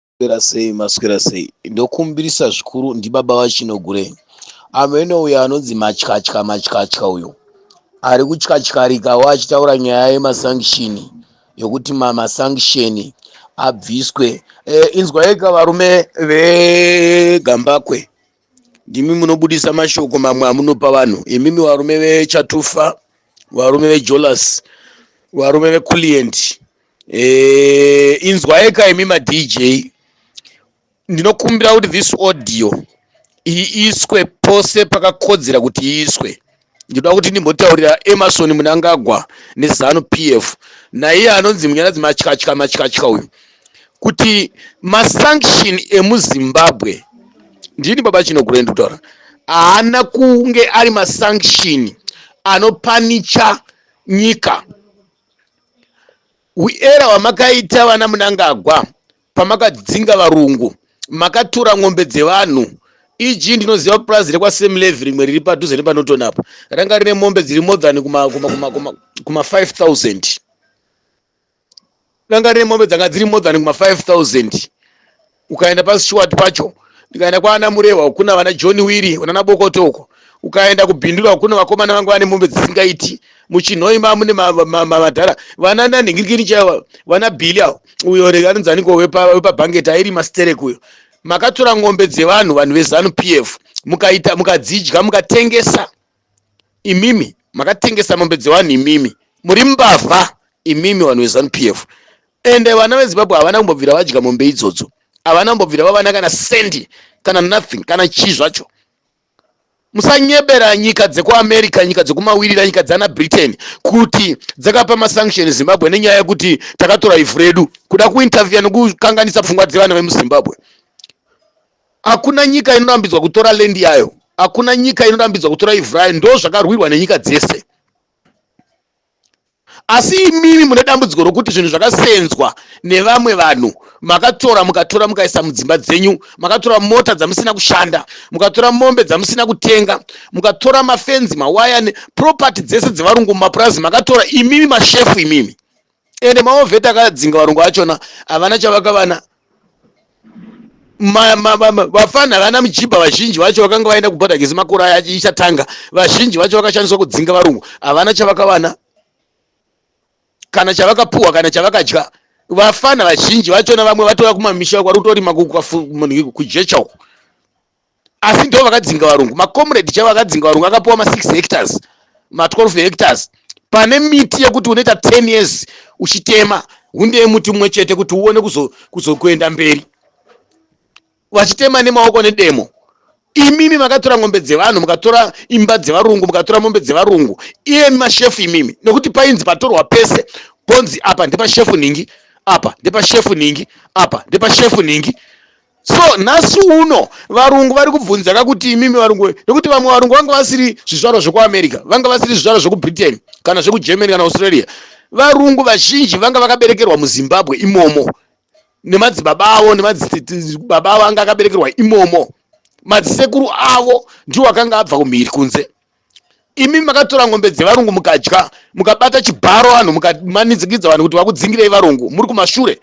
Maswera sei maswera sei ndokumbirisa zvikuru ndibaba vachinogure amene uyo anonzi matyatya matyatya uyo ari kutyatyaarika wo achitaura nyaya yemasangishini yokuti mamasangisheni abviswe e, inzwaika varume vegambakwe ndimi munobudisa mashoko mamwe amunopa vanhu imimi varume vechatufa varume vejolas varume veclient e, eh, inzwaika imi madj ndinokumbira kuti this audio iiswe pose pakakodzera kuti iiswe ndinoda kuti ndimbotaurira emerson munangagwa nezanu p f naiye anonzi munyaradzi matyatya matyatya uyu kuti masanction emuzimbabwe ndini baba chinogure ndikutaura haana kunge ari masanction anopanicha nyika Uera hwamakaita vana Munangagwa pamakadzinga varungu makatura ng'ombe dzevanhu eg ndinoziva purazi rekwaSam Levy rimwe riri padhuze nepaNorton apa ranga rine mombe dziri more than kuma, kuma, kuma, kuma, kuma 5000 ranga rine mombe dzanga dziri more than kuma 5000 ukaenda paStuart pacho ndikaenda kwaana Murehwa ukuna vana John Wiri unana Bokoto uko ukaenda kubhindura ukuno vakomana vanga vane mombe dzisingaiti muchinhoi mamune madhara vana nanhingirikini chaivo vana bhili avo uyo rega anonzaniko wepabhangeti airi masterek uyo makatora ngombe dzevanhu vanhu vezanu p f mukaita mukadzidya mukatengesa imimi makatengesa mombe dzevanhu imimi muri mbavha imimi vanhu vezanu p f ende vana vezimbabwe havana kumbobvira vadya mombe idzodzo havana kumbobvira vavana kana sendi kana nothing kana chii zvacho musanyebera nyika dzekuamerica nyika dzekumawirira nyika dzana britain kuti dzakapa masanction zimbabwe nenyaya yekuti takatora ivhu redu kuda kuintervia nekukanganisa pfungwa dzevana vemuzimbabwe Hakuna nyika inorambidzwa kutora land yayo, hakuna nyika inorambidzwa kutora ivhu rayo, ndo zvakarwirwa nenyika dzese. Asi imimi mune dambudziko rokuti zvinhu zvakasenzwa nevamwe vanhu makatora mukatora mukaisa mudzimba dzenyu, makatora mota dzamusina kushanda, mukatora mombe dzamusina kutenga, mukatora mafenzi, mawaya, property dzese dzevarungu mumapurazi makatora imimi mashefu imimi. ende maovheti akadzinga varungu vachona havana chavakavana vafana havana mujibha vazhinji vacho vakanga vaenda kubhodha gezi makore aya ichatanga vazhinji vacho vakashandiswa kudzinga varungu havana chavakavana kana chavakapuhwa kana chavakadya vafana vazhinji vachona vamwe vatova kumamisha kwarutorima kujecha uku asi ndo vakadzinga varungu macomrade chavo akadzinga varungu akapiwa ma 6 hectares ma 12 hectares pane miti yekuti unoita 10 years uchitema hunde yemuti mumwe chete kuti uone kuzokuenda mberi vachitema nemaoko nedemo imimi makatora ngombe dzevanhu mukatora imba dzevarungu mukatora mombe dzevarungu iyemi mashefu imimi nekuti painzi patorwa pese ponzi apa ndepashefu ningi apa ndepashefu ningi apa ndepashefu ningi so nhasi uno varungu vari kubvunzaka kuti imimi varungu we nekuti vamwe varungu vanga vasiri zvizvarwa zvekuamerica vanga vasiri zvizvarwa zvekubritain kana zvekugermany kana australia varungu vazhinji vanga vakaberekerwa muzimbabwe imomo nemadzibaba avo nemadzibaba avo anga akaberekerwa imomo madzisekuru avo ndiwo akanga abva kumhiri kunze imi makatora ngombe dzevarungu mukadya mukabata chibharo vanhu mukamanidzikidza vanhu kuti vakudzingirei varungu muri kumashure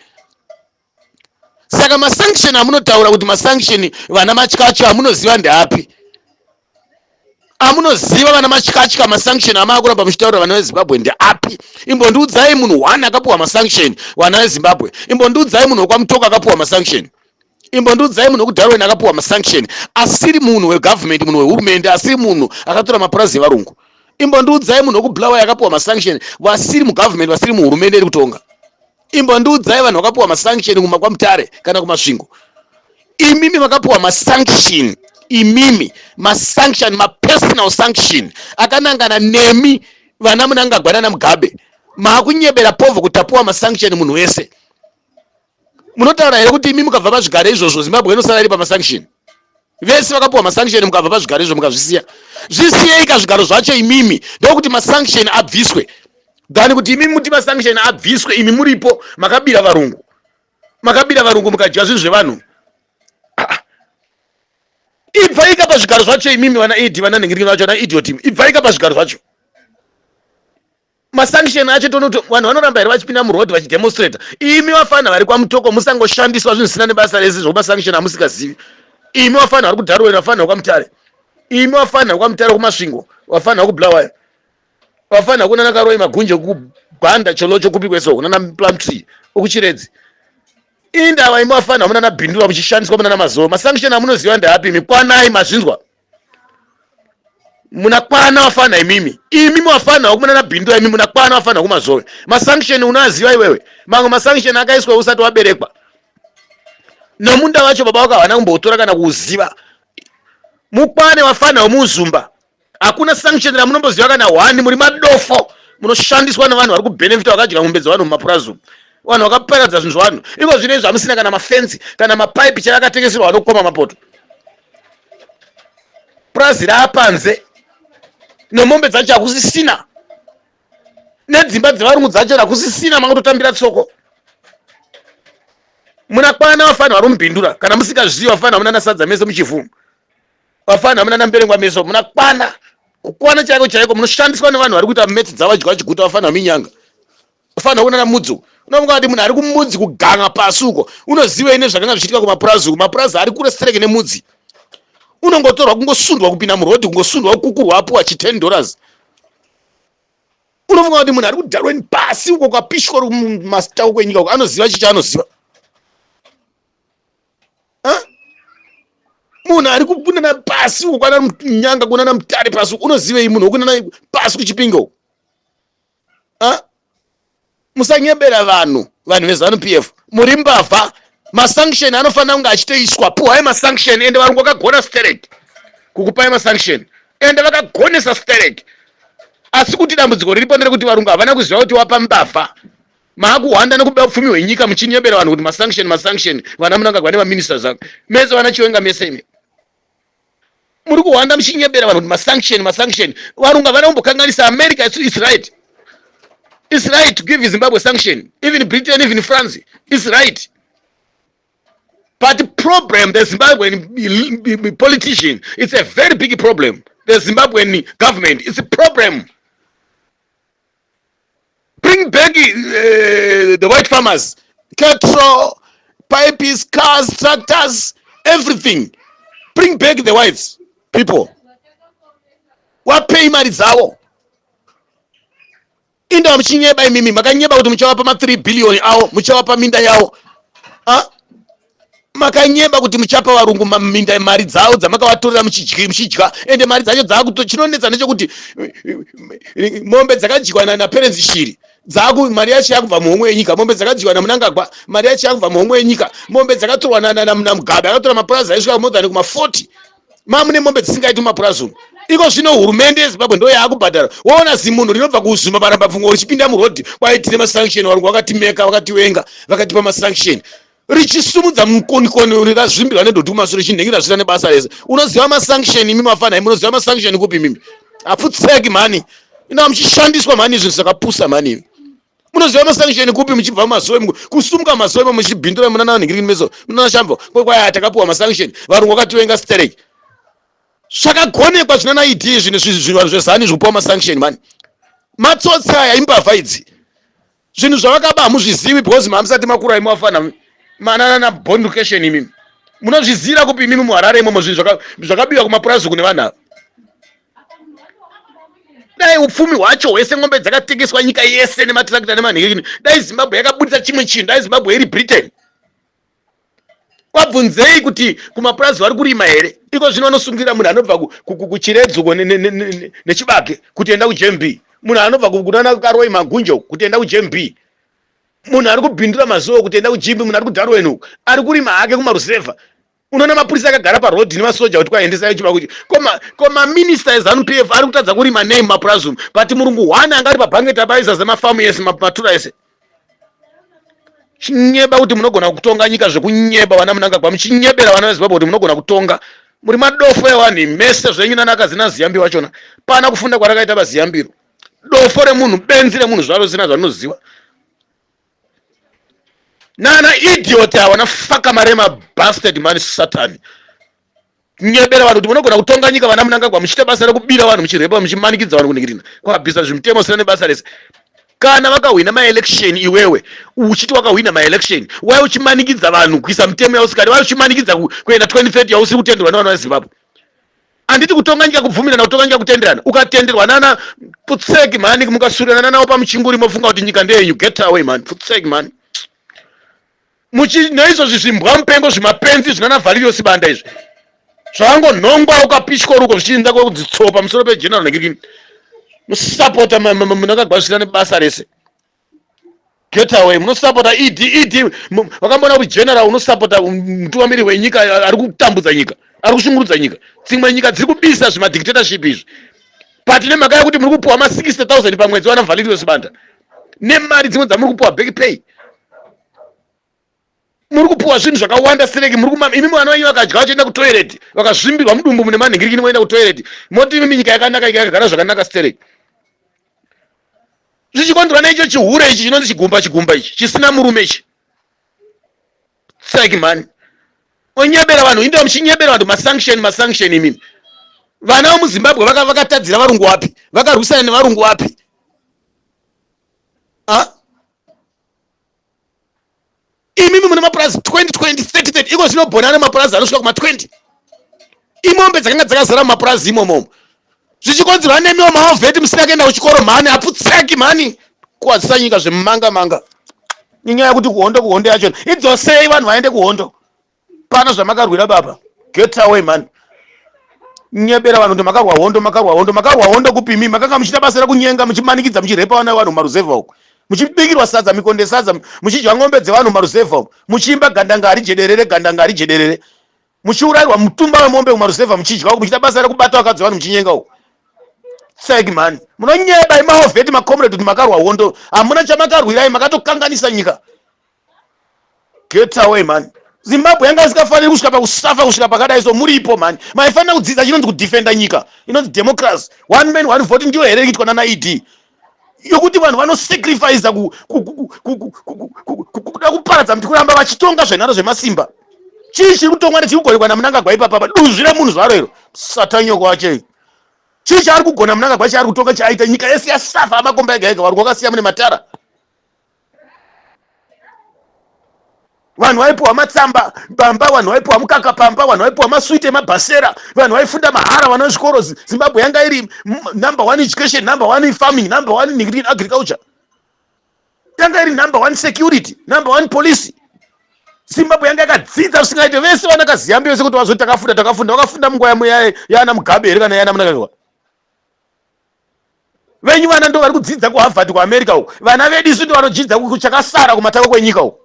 saka masanction amunotaura kuti masanction vana matyatyo amunoziva ndeapi amunoziva vana matyatya masanction amaakuramba muchitaura vana vezimbabwe ndeapi imbondiudzai munhu one akapiwa masanction vana vezimbabwe imbondiudzai munhu wekwamutoka akapiwa masanction imbondiudzai munhu wekudarwen akapiwa masanction asiri munhu wegovernment munhu wehurumende asiri munhu akatora mapurazi evarungu imbondiudzai munhu wekubulawa yakapiwa masanction vasiri mugovernment vasiri muhurumende iri kutonga imbondiudzai vanhu vakapiwa masanction kuma kwamutare kana kumasvingo imimi makapiwa masanction imimi masanction mapersonal sanction akanangana nemi vana munangagwa nana mugabe maakunyebera povho kutapiwa masanction munhu wese munotaura here kuti imi mukabva pazvigare izvozvo zimbabwe inosara iri pamasanction vese vakapiwa masanction mukabva pazvigaro izvo mukazvisiya zvisiyeika zvigaro zvacho imimi ndokuti masanction abviswe than kuti imimi muti masanction abviswe imi muripo makabira varungu makabira varungu mukadya zvinhu zvevanhu ah, ah. ibvaika pazvigaro zvacho imimi vana ed vana nhingirikino vacho vana idiot ibvaika pazvigaro zvacho masanction acho tonoto vanhu vanoramba here vachipinda muroad vachidemonstrata imi vafana vari kwamutoko musangoshandiswa zvinhu zvisina nebasa rese zvokumasanction amusikazivi imi vafana vari kudarweri vafana vekwamutare imi vafana vekwamutare kumasvingo vafana vekubulawayo vafana kunana karoi magunje kubhanda cholocho kupi kweso kunana plum tree ukuchiredzi indava imi vafana munana bhindura muchishandiswa munana mazowe masanction amunoziva ndeapi imi kwanai mazvinzwa munakwana wafana imimi imimi wafana wakumana nabhindura imimi munakwana wafana kumazove masanction unoaziva iwewe mamwe masanction akaiswa usati waberekwa nomunda wacho baba wako havana kumbotora kana kuuziva mukwane wafana wemuzumba hakuna sanction ramunomboziva kana hwani muri madofo munoshandiswa nevanhu vari kubenefita vakadya mombe dzevanhu mumapurazumu vanhu vakaparadza zvinhu zvevanhu iko zvino izvi hamusina kana mafensi kana mapaipi chaiakatengeserwa vanokoma mapoto purazi raapanze nemombe dzacho hakusisina nedzimba dzevarungu dzacho hakusisina makutotambira tsoko muna kwana vafanira vari mubhindura kana musikazivi vafanira muna nasadza mese muchivhungu vafanira muna namberengwa meso muna kwana kukwana chaiko chaiko munoshandiswa nevanhu vari kuita meti dzavadya vachiguta vafanira minyanga ufanira kunana mudzi uko unofunga kuti munhu ari kumudzi kuganga pasi uko unozivei nezvakanga zvichiitika kumapurazi uko mapurazi ari kure stereke nemudzi unongotorwa kungosundwa kupinda murodhi kungosundwa kukukurwa apuwa chi 10 dollars unofunga kuti munhu ari kudarweni pasi uko kwapishwa ri masita uko enyika uko anoziva chicha anoziva munhu ari kukunana pasi uko kwananyanga kunana mutare pasi uko unozivei munhu wokunana pasi kuchipinga uko Ah, musanyebera vanhu vanhu vezanu p f muri mbavha masanction anofanira kunge achitoiswa puhwai masanction ende varungu vakagona sterek kukupai masanction ende vakagonesa sterek asi kuti dambudziko riripo nderekuti varungu havana kuziva kuti wapa mbavha maakuhwanda nekuba upfumi hwenyika muchinyebera vanhu kuti masanction masanction vana munangagwa nemaministers ako mese vana chiwenga mese imi muri kuhwanda muchinyebera vanhu kuti masanction masanction varungu havana kumbokanganisa america isu is right is right to give zimbabwe sanction even britain even france is right but the problem the zimbabwean politician it's a very big problem the zimbabwean government it's a problem bring back uh, the white farmers cattle pipes cars tractors everything bring back the whites people wapei mari dzavo inda muchinyeba imimi makanyeba kuti muchavapa ma3 billion awo muchavapa minda yawo makanyeba kuti muchapa varungu minda mari dzavo dzamakawatorera muchidya muchidya ende mari dzacho dzaakuto chinonetsa nechokuti mombe dzakadyiwa naperenzi shiri dzaku mari yacho yakubva muhomwe yenyika mombe dzakadyiwa namunangagwa mari yacho yakubva muhomwe yenyika mombe dzakatorwa namugabe akatora mapurazi aisvika more than kuma 40 mamune mombe dzisingaiti mapurazi umu iko zvino hurumende yezimbabwe ndo yaakubhadhara woona zimunhu rinobva kuzuma marambapfungwa richipinda murodhi kwaitine masanction varungu vakatimeka vakatiwenga vakatipa masanction richisumudza mukonikoni uri razvimbirwa nedoti kumasure chinhengi razvira nebasa rese unoziva masanction imi mafana imi unoziva masanction kupi mimi aputseki mhani ina muchishandiswa mhani izvi zvakapusa mhani imi munoziva masanction kupi muchibva mumasowe kusumuka masowe mo muchibhindura munana vanhingiriki meso munana shambo kwekwaya takapiwa masanction varungu vakativenga stereki zvakagonekwa zvinana id zvinhu zvinhu vanhu zvezani zvikupiwa masanction mhani matsotsi aya imbavha idzi zvinhu zvavakaba hamuzvizivi because mamusati makura imi wafana mananana born location imimi munozvizira kupi imimi muharare imomo zvinhu zvakabiwa kumapurazi kune vanhu ava dai upfumi hwacho hwese ngombe dzakatengeswa nyika yese nematirakita nemanhekini dai zimbabwe yakaburitsa chimwe chinhu dai zimbabwe iri britain wabvunzei kuti kumapurazi vari kurima here iko zvino vanosungira munhu anobva kuchiredzoko nechibage kuti enda kujmb munhu anobva kunana karoi magunjo kuti enda kujmb munhu ari kubhindura mazuva kuti enda kujmb munhu ari kudarwen uku ari kurima hake kumarusevha unoona mapurisa akagara parod nemasoja kuti kwaendesai chibako ko maminista ezanup f ari kutadza kurima nei mumapurazi umu but murungu one anga ari pabhangeti abaisa zemafamu ese mapatura ese chinyeba kuti munogona kutonga nyika zvekunyeba vana munangagwa muchinyebera vana vezimbabwe kuti munogona kutonga muri madofo ewanhu mese zvenyu nanakazina ziyambi vachona pana kufunda kwarakaita vaziyambiro dofo remunhu benzi remunhu zvaro zina zvarinoziva nana idiot awana faka marema bastard mani satani nyebera vanhu kuti munogona kutonga nyika vana munangagwa muchiita basa rekubira vanhu muchirepa muchimanikidza vanhu kuningirina kwabvisa zvimutemo sina nebasa rese kana vakahwina maelection iwewe uchiti wakahwina maelection wai uchimanikidza vanhu kuisa mitemo yausikadi wai uchimanikidza kuenda 2030 yausi kutenderwa nevana vezimbabwe handiti kutonga nyika kubvumirana kutonga nyika kutenderana ukatenderwa nana putseki mani mukasurirana nanawo pamuchinguri mofunga kuti nyika ndeyenyu get away mani putseki mani muchinoizvozvi zvimbwa mupengo zvimapenzi zvinana valerio sibanda izvi zvakangonhongwa ukapishwa ruko zvichiinza kwekudzitsowa pamusoro pegeneral negirini musapota munakagwazvira nebasa rese getaway munosapota ed ed vakamboona kuti general unosapota mutungamiri wenyika ari kutambudza nyika ari kushungurudza nyika dzimwe nyika dziri kubisa zvimadictatorship izvi but nemhaka yekuti muri kupiwa ma 60 000 pamwedzi vana valerio sibanda nemari dzimwe dzamuri kupiwa back pay muri kupiwa zvinhu zvakawanda sereki muri kumama imi mwana wenyu vakadya vachienda kutoireti vakazvimbirwa mudumbu mune manhingirikini moenda kutoireti moti imi minyika yakanaka ika yakagara zvakanaka stereki zvichikonzerwa neicho chihure ichi chinonzi chigumba chigumba ichi chisina murume ichi seki mani onyebera vanhu indoa muchinyebera vanhu masanction masanction imimi vana vemuzimbabwe vakatadzira varungu wapi vakarwisana nevarungu wapi imimi mune mapurazi 20 20 30 30 iko zvinobhona ane mapurazi anosvika kuma 20 imombe dzakanga dzakazara mumapurazi imomomo zvichikonzerwa nemiwo maovheti musina kuenda kuchikoro mhani aputseki mhani kuwadzisa nyika zvemumanga manga inyaya yekuti kuhondo kuhondo yachona idzosei vanhu vaende kuhondo pana zvamakarwira baba get away man nyebera vanhu kuti makarwa hondo makarwa hondo makarwa hondo kupimi makanga muchiita basa rekunyenga muchimanikidza muchirepa vana vanhu maruzevha uko muchibikirwa sadza mikonde sadza muchidya ngombe dzevanhu maruzevha uko muchiimba gandanga hari jederere gandanga hari jederere muchiurairwa mutumba wemombe kumaruzevha muchidya uko muchiita basa rekubata vakadzi vanhu muchinyenga uko tsek mani munonyeba imaovheti macomrade kuti makarwa hondo hamuna chamakarwirai makatokanganisa nyika get away mhani zimbabwe yanga isikafaniri kusvika pakusafa kusvika pakadai so muripo mhani maifanira kudzidza chinonzi kudefenda nyika inonzi democracy one man one vote ndiyo here iitwa nana ed yokuti vanhu vanosacrifica kuda kuparadza mti kuramba vachitonga zvenharo zvemasimba chii chiri kutongwa nechiri kugonekwa namunangagwa ipapapa duzvi remunhu zvaro iro satanyoko wachei chii chaari kugona munangagwa chaari kutonga chaaita nyika yese yasafa amakomba ega ega vari kwakasiya mune matara vanhu vaipiwa matsamba pamba vanhu vaipiwa mukaka pamba vanhu vaipiwa maswiti emabhasera vanhu vaifunda mahara vana zvikoro zimbabwe yanga iri number one education number one farming number one in agriculture yanga iri number one security number one policy zimbabwe yanga yakadzidza zvisingaite vese vanakaziyambi vese kuti vazoti takafunda takafunda vakafunda munguva yaana mugabe here kana yaana munakaiwa venyu vana ndo vari kudzidza kuharvard kuamerica uku vana vedu isu ndo vanodzidza kuchakasara kumatako kwenyika uku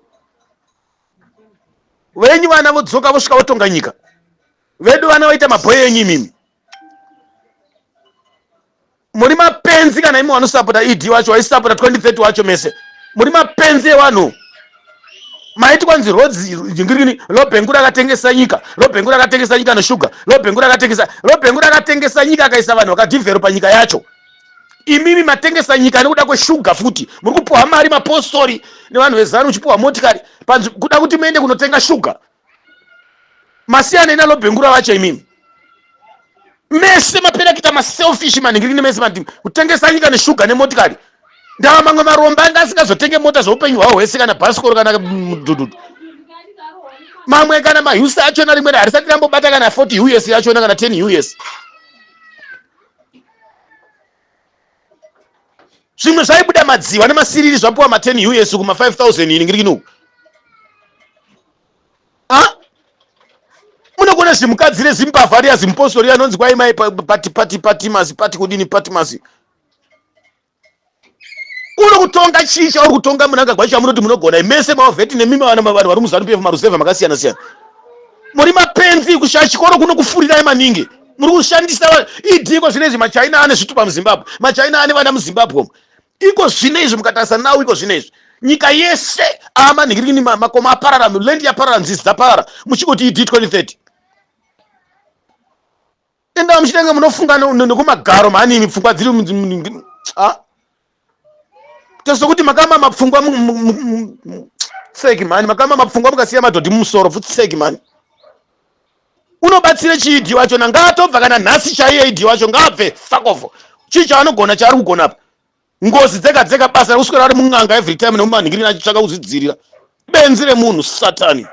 venyu vana vodzoka vosvika votonga nyika vedu vana vaita mabhoyo enyu imimi muri mapenzi kana imi wanosapota ed wacho waisapota 2030 wacho mese muri mapenzi ewanhu maiti kwanzi rodzi jingirini lobhengu rakatengesa nyika lobhengu rakatengesa nyika neshuga lobhengu rakatengesa lobhengu rakatengesa nyika akaisa vanhu vakadhivhero panyika yacho imimi matengesa nyika nekuda kweshuga futi muri kupiwa mari mapostori nevanhu vezanu uchipiwa motikari kuda kuti muende kunotenga shuga masiyana ina lobhengura vacho imimi mese mapera kuita maselfish manhingiri nemese mati kutengesa nyika neshuga nemotikari ndava mamwe maromba anga asingazotenge mota zveupenyu hwavo hwese kana bhasikoro kana mudhudhudhu mamwe kana mahusi achona rimwe harisati rambobata kana 40 us yachona kana 10 us zvimwe zvaibuda madziva nemasiriri zvapiwa ma 10 us kuma 5000 iningirikini uku munokuona zvimukadzi rezimbavha riya zimpostori anonzi kwai mai pati pati patimasi pati kudini patimasi uri kutonga chii chauri kutonga munangagwa chamunoti munogona mese mavheti nemima vana mavanhu vari muzanu pf marusevha makasiyana siyana muri mapenzi kushaya chikoro kuno kufurirai maningi muri kushandisa vanhu idi iko zvino izvi machina ane zvitupa muzimbabwe machina ane vana muzimbabwe umu iko zvino izvi mukatarisa nawo iko zvino izvi nyika yese amanhikirini makoma aparara land yaparara nzizi dzaparara muchingoti idi 2030 enda muchitenge munofunga nekumagaro mhani imi pfungwa dziri ah. Tozo kuti makama mapfungwa tseki mani makama mapfungwa mukasiya madhodhi mumusoro futseki mani. Unobatsira chii dhii wacho na ngaatobva kana nhasi chaiye dhii wacho ngaabve fuck off. Chii chaanogona chaari kugona apa. Ngozi dzega dzega basa rekuswera ari mun'anga every time nemumanhingirina achitsvaka kuzvidzirira. benzi remunhu satani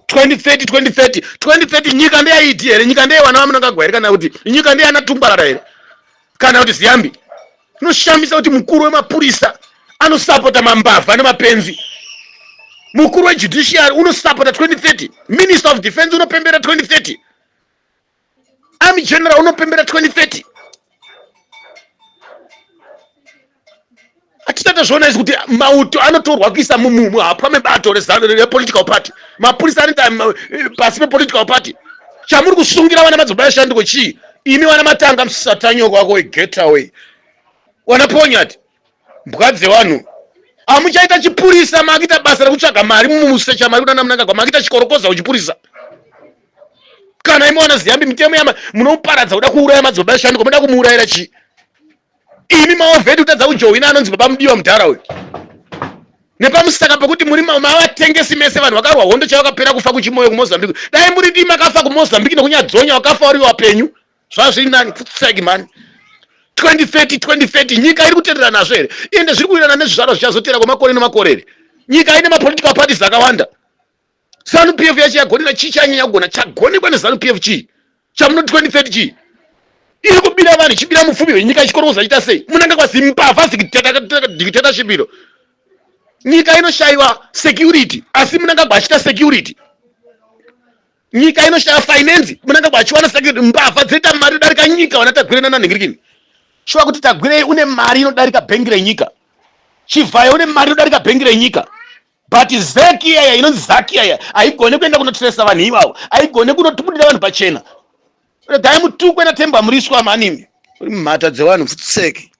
2030 2030 2030 nyika ndeyaiti here nyika ndeye vana vamunangagwa here kana kuti nyika ndeyana tumbarara here kana kuti ziyambi inoshamisa kuti mukuru wemapurisa anosapota mambavha nemapenzi mukuru wejudiciary unosapota 2030 minister of defense unopembera 2030 Army general unopembera 2030. Atitata zvona izi kuti mauto anotorwa kuisa mumumu hapwa mebato rezano re political party. Mapurisa anoita eh, pasi pe political party. Chamuri kusungira vana madzibaba shanduko chii? Imi vana matanga msatanyoko wako we get away. Wana ponyati. mbwa dzevanhu amuchaita chipurisa maakita basa rekutsvaga mari mumusecha mari kunana munangagwa maakita chikorokoza uchipurisa kana imi wana ziyambi mitemo yama munoparadza kuda kuuraya madzibaba eshanduko moda kumuurayira chii imi maovheti kutadza kujohwina anonzi baba mudiwa mudhara uyu nepamusaka pekuti muri mavatengesi mese vanhu vakarwa hondo chavakapera kufa kuchimoyo kumozambique dai muri dii makafa kumozambique nekunyadzonya wakafa uri wapenyu zvazvirinani kutsegi mani 2030 2030 nyika iri kutenderana nazvo here ende zviri kuwirirana nezvizvarwa zvichazotera kwemakore nemakore here nyika ine mapolitical parties akawanda zanu p f yacho yagonera chii chanyanya kugona chagonekwa nezanu p f chii chamunoti 2030 chii iri kubira vanhu ichibira mupfumi venyika ichikorokoza chiita sei munenge kwazimbavha dictatorship iro nyika inoshayiwa security asi munangagwa achita security nyika inoshaya finance munangagwa achiwana sake mbavha dzoita mari darika nyika wana tagwire nananhingirikini shuwa kuti tagwirei une mari inodarika bhengi renyika chivhayo une mari inodarika bhengi renyika but zeki iyaya inonzi zaki iyaya haigone kuenda kunotresa vanhu ivavo haigone kunotibudira vanhu pachena regai mutukwe natembo amuriswa manimi uri mumhata dzevanhu futseki